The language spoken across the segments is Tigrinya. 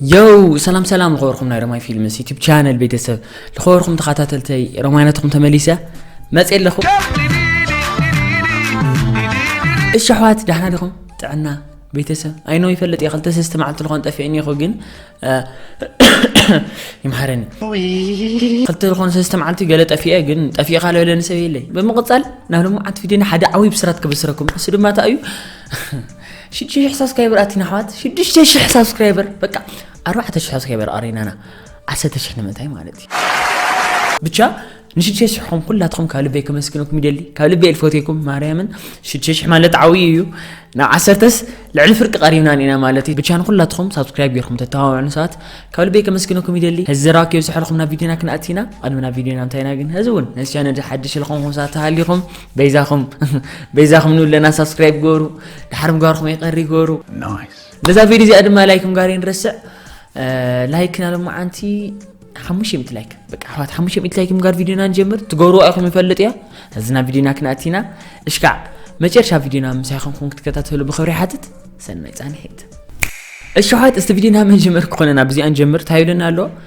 ዮው ሰላም ሰላም ዝኸበርኩም ናይ ረማይ ፊልምስ ዩቲብ ቻነል ቤተሰብ ዝኸበርኩም ተኸታተልተይ ረማይነትኹም ተመሊሰ መፅእ ኣለኹ እሺ ኣሕዋት ዳሕና ዲኹም ጥዕና ቤተሰብ ኣይኖ ይፈልጥ እየ ክልተ ሰስተ መዓልቲ ዝኾን ጠፊእኒ ይኹ ግን ይምሃረኒ ክልተ ዝኾነ ሰስተ መዓልቲ ገለ ጠፊኤ ግን ጠፊኤ ካለ በለኒ ሰብ የለይ ብምቕፃል ናብ ሎምዓት ቪድዮና ሓደ ዓብዪ ብስራት ክብስረኩም እሱ ድማ እንታይ እዩ ሽዱሽተ ሽሕ ሳብስክራይበር ኣቲና ኣሕዋት ሽዱሽተ ሽሕ ሳብስክራይበር በቃ ኣርባዕተ ሽሕ ሳብስክራይበር ኣረይናና ዓሰርተ ሽሕ ንምንታይ ማለት እዩ ብቻ ንሽዱሽተ ሽሕኹም ኩላትኹም ካብ ልበይ ከመስግነኩም ይደሊ ካብ ልበይ ልፈትኩም ማርያምን ሽዱሽተ ሽሕ ማለት ዓብዪ እዩ ናብ ዓሰርተስ ልዕሊ ፍርቂ ቀሪብና ኒና ማለት እዩ ብቻ ንኩላትኹም ሳብስክራይብ ጌርኩም ተተባብዑ ንሰባት ካብ ልበይ ከመስግነኩም ይደሊ ህዚ ዘራኪ ብዝሐልኹም ናብ ቪድዮና ክንኣቲና ቅድሚ ናብ ቪድዮና እንታይና ግን ህዚ እውን ነዚ ቻነል ሓድሽ ልኹምኩም ሰባት ተሃሊኹም በይዛኹም በይዛኹም ንብለና ሳብስክራይብ ገሩ ድሓር ምጋርኹም ኣይቀሪ ገሩ ነዛ ቪድዮ እዚኣ ድማ ላይክ ምጋር ይንረስዕ ላይክ ናሎም መዓንቲ ሓሙሽተ ሚእቲ ላይክ በቃ ኣሕዋት ሓሙሽተ ሚእቲ ላይክ ምጋር ቪድዮና ንጀምር ትገብርዋ ኢኹም ይፈልጥ እያ እዚ ናብ ቪድዮና ክንኣቲና እሽካዕ መጨረሻ ቪድዮና ምሳይ ኹምኩም ክትከታተሉ ብክብሪ ሓትት ሰናይ ፃንሒት እሽሓት እስቲ ቪድዮና መጀመር ክኾነና ብዚኣ ንጀምር ታይብለና ኣሎ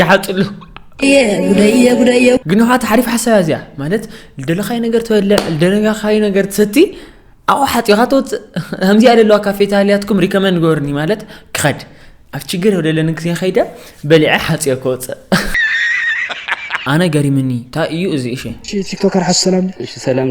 ይሓፅሉ ግን ካ ሓሪፍ ሓሳብ እዚኣ ማለት ልደለካይ ነገር ትበልዕ ልደለካይ ነገር ትሰቲ ኣብኡ ሓፂኻ ተወፅእ ከምዚኣ ዘለዋ ካፌታልያትኩም ሪከመንድ ገበርኒ ማለት ክኸድ ኣብ ችግር ወደለኒ ግዜ ከይደ በሊዐ ሓፂኦ ክወፅእ ኣነ ገሪምኒ እንታይ እዩ እዚ እሺ ቲክቶከር ሓሱ ሰላም እሺ ሰላም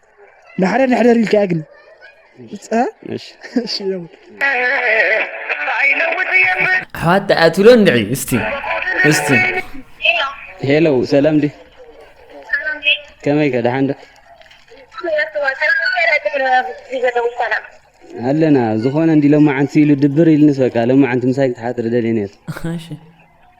ንሓደር ንሕደር ኢልካ እያ ግን ኣሕዋት ተኣትሎ እንድዒ እስቲ እስቲ ሄሎ ሰላም ዲ ከመይ ከ ደሓን ዶ ኣለና ዝኾነ እንዲ ሎማዓንቲ ኢሉ ድብር ኢልንስ በቃ ሎማዓንቲ ምሳይ ክትሓትሪ ደልየ ነይረ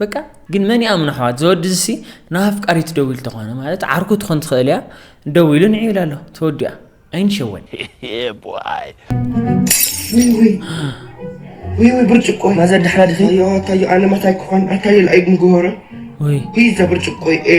በቃ ግን መን ይኣምኖ ኣሕዋት ዝወድዚ ሲ ንኣፍቃሪት ደዊሉ ተኾነ ማለት ዓርኩ ትኾን ትኽእል እያ ደዊሉ ንዕ ኢላ ኣሎ ተወዲኣ ኣይንሸወን ብርጭቆ ማዘ ድሕራ ድኺ ኣታዮ ኣነ ማታይ ክኾን ኣታዮ ልኣይ ምግሆረ ወይ ሂዘ ብርጭቆ ኤ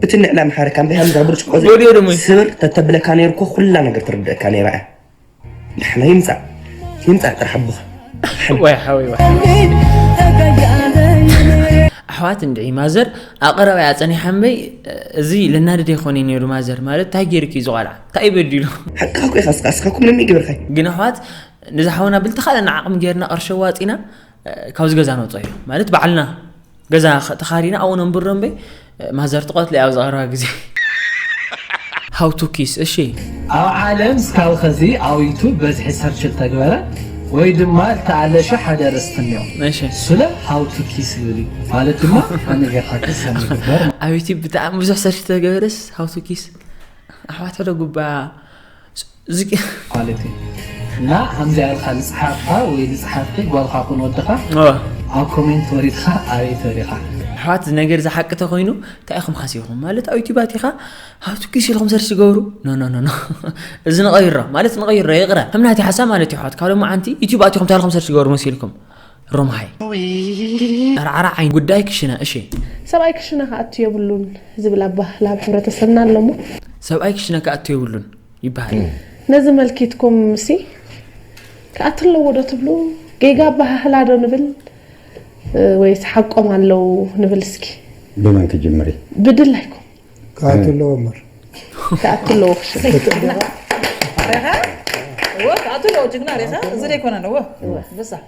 ብትንዕ ናይ ኣምሓርካ እምበይ ሃምዛ ብርጭቆ ዘይ ወዲዮ ደሞ እዩ። ስብር ተተብለካ ነይሩ እኮ ኩላ ነገር ትርድእካ ነይራ እያ ንሕና ይምፃእ ይምፃእ ጥራሕ ኣቦኻ ወይ ሓወይ ወይ ኣሕዋት እንድዒ ማዘር ኣቐረባ እያ ፀኒሓ እምበይ እዚ ለናድድ ይኾነ ነይሩ ማዘር ማለት እንታይ ገይርኪ እዩ ዝቆልዓ እንታይ እዩ በዲሉ ሓቂ እኮ ኢኻ እስካ እስካ እኮ ምንም ይገብርካ ግን ኣሕዋት ነዚ ሓውና ብልተኻለና ዓቕሚ ጌርና ቅርሺ ኣዋፂና እ፣ ካብዚ ገዛ ነውፅኦ እዩ ማለት ባዕልና ገዛ ተኻሪና ኣብኡ ነንብሮ እምበይ ማዘር ትቐትሎ እያ ኣብዚ ቀረባ ግዜ ሃው ቱ ኪስ እሺ ኣብ ዓለም ስካብ ኸዚ ኣብ ዩቱብ በዝሒ ሰርች እተግበረ ወይ ድማ እተኣለሸ ሓደ ርእስቲ እኒኦ እሺ ስለ ሃው ቱ ኪስ ዝብል እዩ ማለት ድማ ከመይ ጌርካ ክሰም ይግበር ኣብ ዩቱብ ብጣዕሚ ብዙሕ ሰርች ተገበረስ ሃው ቱ ኪስ ኣሕዋት ሕደ ጉባ ኳሊቲ እና ከምዚኣ ኢልካ ዝፀሓፍካ ወይ ዝፀሓፍኪ ጓልካ ኩን ወድኻ ኣብ ኮሜንት ወሪድካ ኣበይ ተሪኻ ኣሕዋት እዚ ነገር እዚ ሓቂ ተኮይኑ እንታይ ኢኹም ሓሲብኩም ማለት ኣብ ዩቲብ ኣቲኻ ሃብቲ ኪስ ኢልኩም ሰርች ዝገብሩ ኖኖኖኖ እዚ ንቐይሮ ማለት ንቐይሮ ይቕረ ከም ናቲ ሓሳብ ማለት ይሕዋት ካብ ሎሚ ዓንቲ ዩቲብ ኣቲኹም እንታይ ኢልኩም ሰርች ዝገብሩ መሲልኩም ሮምሃይ ኣርዓራ ዓይን ጉዳይ ክሽነ እሺ ሰብኣይ ክሽነ ክኣቱ የብሉን ዝብል ኣባህላ ኣብ ሕብረተሰብና ኣለሞ ሰብኣይ ክሽነ ክኣቱ የብሉን ይበሃል። ነዚ መልኪትኩም ሲ ክኣ ትለዎ ዶ ትብሉ ጌጋ ኣበሃህላ ዶ ንብል ወይስ ሓቆም ኣለው ንብል እስኪ። ብመን ክጅምሪ? ብድላይኩም። ክኣ ትለዎ እምበር። ክኣ ትለዎ ክሽነ። ሬኻ እወ ክኣ ትለዎ ጅግና ሬኻ እዚ ዶ ኣይኮነን እወ እወ።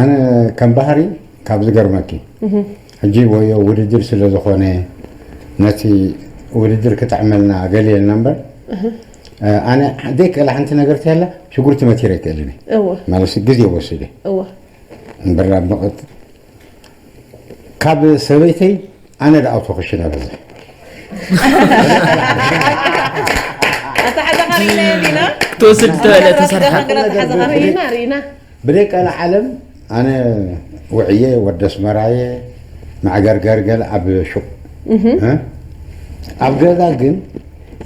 ኣነ ከም ባህሪ ካብ ዝገርመኪ ሕጂ ወዮ ውድድር ስለ ዝኮነ ነቲ ውድድር ክጥዕመልና ገሊየልና እምበር ኣነ ዘይክእላ ሓንቲ ነገር ተላ ሽጉርቲ መቲረ ኣይክእልን እየ እወ ማለት ግዜ ወሲደ እወ እምበር ኣብ መቐ ካብ ሰበይተይ ኣነ ዳኣ ኣውቶ ክሽነ በዝሕ። ብደይ ቀላዓለም ኣነ ውዕየ ወዲ ኣስመራ እየ መዕገርገር ገለ ኣብ ሹቅ ኣብ ገዛ ግን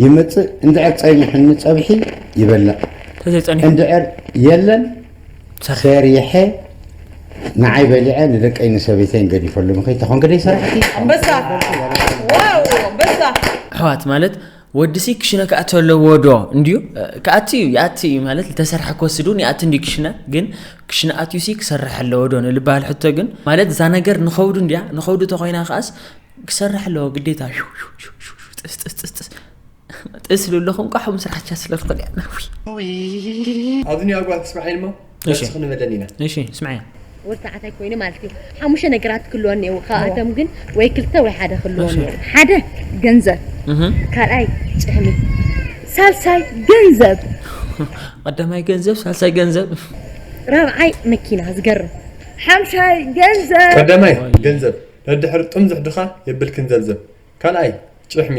ይመጽእ እንድዕር ጸኒሑኒ ጸብሒ ይበልዕ እንድዕር የለን ሰሪሐ ንዓይ በሊዐ ንደቀይ ንሰበይተይን ገዲፈሉ ንክይተኮን ግደይ ሰራሕቲ ኣንበሳ ዋው ኣንበሳ ኣሕዋት ማለት ወድሲ ክሽነ ክኣቲ ኣለዎ ዶ እንድዩ ክኣቲ እዩ ይኣቲ እዩ ማለት ዝተሰርሐ ክወስድ እውን ይኣቲ እንድዩ ክሽነ ግን ክሽነ ኣትዩሲ ክሰርሕ ኣለዎ ዶ ንልበሃል ሕቶ ግን ማለት እዛ ነገር ንኸውዱ እንድያ ንኸውዱ ተኮይና ከኣስ ክሰርሕ ኣለዎ ግዴታ ጥስጥስጥስጥስ ጥስሉ ኣለኹም ቋሑም ስራሕ ቻ ስለ ትኽእል እያ ናዊ ኣብዚ ኒዋ ጓል ትስራሕ ኢልሞ ነፍሲ ክንበለን ኢና እሺ ስምዐያ ወዲ ተባዕታይ ኮይኑ ማለት እዩ ሓሙሽተ ነገራት ክህልዎ እኒአዎ ካብኣቶም ግን ወይ ክልተ ወይ ሓደ ክህልዎ እኒአዎ ሓደ ገንዘብ ካልኣይ ጭሕሚ ሳልሳይ ገንዘብ ቀዳማይ ገንዘብ ሳልሳይ ገንዘብ ራብዓይ መኪና ዝገርም ሓምሻይ ገንዘብ ቀዳማይ ገንዘብ ነድሕር ጥም ዝሕድኻ የብልክን ዘብዘብ ካልኣይ ጭሕሚ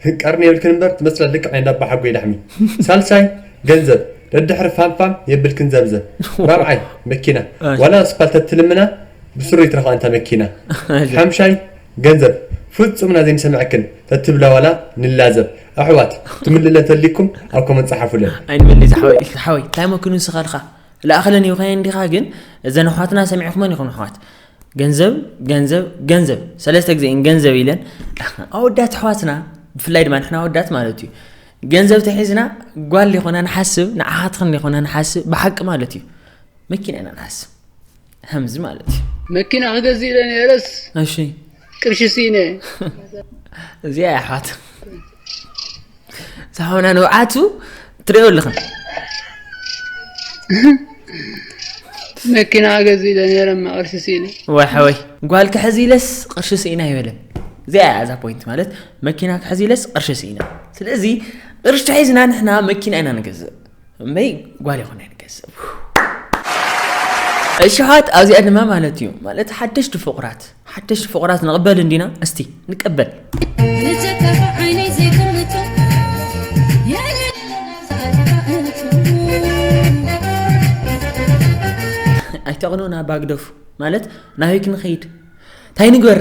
ህንቀርኒ የብልክን እምበር ትመስላ ልክዕ ናይ እንዳባሓጎይ ላሕሚ ሳልሳይ ገንዘብ ደድሕሪ ፋም ፋም የብልክን ዘብዘብ ራብዓይ መኪና ዋላ ኣስፓልት ተትልምና ብስሩ ይትረፋ ኣንታ መኪና ሓምሻይ ገንዘብ ፍጹም እና ዘይንሰምዐክን ተትብላ ዋላ ንላዘብ ኣሕዋት ትምልእለን ተልይኩም ኣብ ኮመንት ጸሓፉለን ኣይንበሊ ዝሓወይ ኢልካ ሓወይ እንታይ መኪኑ ንስኻ ኢልካ ላኣኸለን ይብካየን ዲኻ ግን እዘን ኣሕዋትና ሰሚዕኩመን ኢኹም ኣሕዋት ገንዘብ ገንዘብ ገንዘብ ሰለስተ ግዜ እየን ገንዘብ ኢለን ኣወዳት ኣሕዋትና ብፍላይ ድማ ንሕና ኣወዳት ማለት እዩ ገንዘብ ተሒዝና ጓል ሊኾና ንሓስብ ንዓኻትኽን ሊኾና ንሓስብ ብሓቂ ማለት እዩ መኪና ኢና ንሓስብ ከምዚ ማለት እዩ መኪና ክገዝእ ኢለ ነረስ እሺ ቅርሺ ስኢነ እዚኣ እያ ኣሕዋት ሳሆና ንብዓቱ ትሪኦ ኣለኽን መኪና ገዚ ኢለ ነረ ቅርሺ ስኢነ ወሓወይ ጓል ክሕዚ ኢለስ ቅርሺ ስኢና ይበለን እዚኣ እያ እዛ ፖይንት ማለት መኪና ክሕዚ ኢለስ ቅርሺ ስኢና ስለዚ ቅርሺ ተሒዝና ንሕና መኪና ኢና ንገዝእ እመይ ጓል ይኹን ንገዝእ እሽሓት ኣብዚኣ ድማ ማለት እዩ ማለት ሓደሽቲ ፍቑራት ሓደሽቲ ፍቑራት ንቕበል እንዲና እስቲ ንቀበል ኣይተቕኑን ኣባግደፉ ማለት ናበይ ክንኸይድ እንታይ ንግበር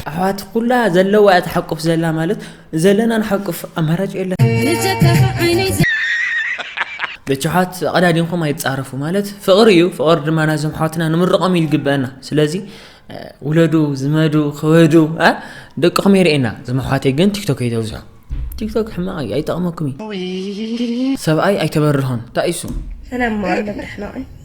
ኣሕዋት ኩላ ዘለዋ እያ ተሓቁፍ ዘላ ማለት ዘለና ንሓቁፍ ኣማራጭ የለን። ብቻ ኣሕዋት ኣቐዳዲምኩም ኣይትጻረፉ ማለት ፍቕሪ እዩ ፍቕሪ ድማ ናዞም ኣሕዋትና ንምርቖም እዩ ዝግበአና ስለዚ ውለዱ ዝመዱ ክበዱ ደቅኹም የርእየና እዞም ኣሕዋተይ ግን ቲክቶክ ኣይተብዝሑ ቲክቶክ ሕማቕ እዩ ኣይጠቕመኩም እዩ ሰብኣይ ኣይተበርሆን እንታይ እሱ ሰላም ማዕለም ርሕማቕን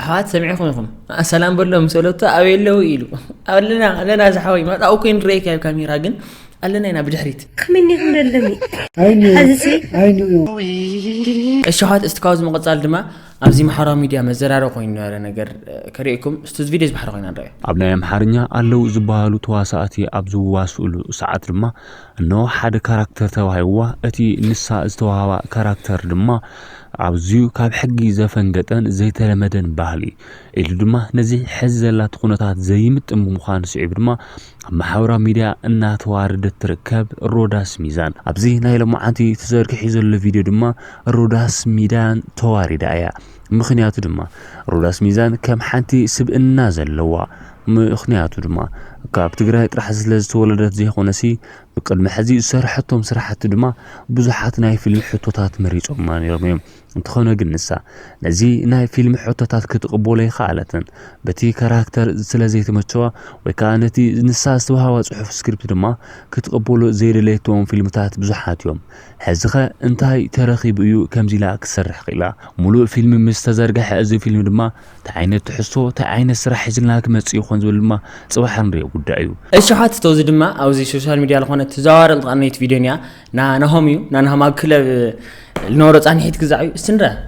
ኣሕዋት ሰሚዕኹም ኢኹም ሰላም በሎ ምስ በለቶ ኣበይ ኣለዉ ኢሉ ኣለና ኣለና ዝሓወይ መጣኡ ኮይኑ ረይካ ብ ካሜራ ግን ኣለና ኢና ብድሕሪት እሺ ኣሕዋት እስቲ ካብዚ ምቕፃል ድማ ኣብዚ ማሕበራዊ ሚድያ መዘራረቢ ኮይኑ ነበረ ነገር ከርእየኩም እስቲ እዚ ቪድዮ ዝባሕሪ ኮይና ንረኣዮ ኣብ ናይ ኣምሓርኛ ኣለዉ ዝበሃሉ ተዋሳእቲ ኣብ ዝዋስእሉ ሰዓት ድማ እነሆ ሓደ ካራክተር ተዋሂብዋ፣ እቲ ንሳ ዝተዋህባ ካራክተር ድማ ኣዝዩ ካብ ሕጊ ዘፈንገጠን ዘይተለመደን ባህሊ ኢሉ ድማ ነዚ ሕዚ ዘላቶ ኩነታት ዘይምጥን ብምዃኑ ስዒቡ ድማ ኣብ ማሕበራዊ ሚድያ እናተዋረደት ትርከብ ሮዳስ ሚዛን። ኣብዚ ናይ ሎማዓንቲ ተዘርጊሑ ዘሎ ቪድዮ ድማ ሮዳስ ሚዳን ተዋሪዳ እያ። ምኽንያቱ ድማ ሮዳስ ሚዛን ከም ሓንቲ ስብእና ዘለዋ ምኽንያቱ ድማ ካብ ትግራይ ጥራሕ ስለ ዝተወለደት ዘይኾነሲ ብቅድሚ ሕዚ ዝሰርሐቶም ስራሕቲ ድማ ብዙሓት ናይ ፊልም ሕቶታት መሪፆማ ነይሮም እዮም። እንተኾነ ግን ንሳ ነዚ ናይ ፊልም ሕቶታት ክትቕበሎ ኣይከኣለትን። በቲ ካራክተር ስለ ዘይተመቸዋ ወይ ከዓ ነቲ ንሳ ዝተዋሃባ ፅሑፍ ስክሪፕት ድማ ክትቕበሎ ዘይደለየቶም ፊልምታት ብዙሓት እዮም። ሕዚኸ እንታይ ተረኺቡ እዩ ከምዚ ኢላ ክትሰርሕ ክኢላ? ሙሉእ ፊልም ምስ ተዘርገሐ እዚ ፊልም ድማ ታይ ዓይነት ትሕዝቶ ታይ ዓይነት ስራሕ ሒዝልና ክመፅእ ይኾን ዝብል ድማ ፅባሕ እንሪኦ ጉዳይ እዩ። እሺ ሓትቶ እዚ ድማ ኣብዚ ሾሻል ሚድያ ልኾነት ትዛዋወር ልትቀነይት ቪድዮን እያ ናናሆም እዩ ናናሆም ኣብ ክለብ ልነበሮ ፃኒሒት ግዛዕ እዩ እስቲ ንርኣ።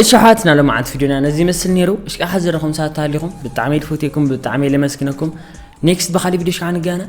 እሺ ኣሕዋትና ሎሚ ዓንቲ ቪድዮና ነዚ ይመስል ነይሩ እሽቃ ሓዘረኹም ሳታሊኹም ብጣዕሚ ልፈትየኩም ብጣዕሚ ለመስግነኩም ኔክስት ብካሊእ ቪድዮ ሽዓ ንገናኝ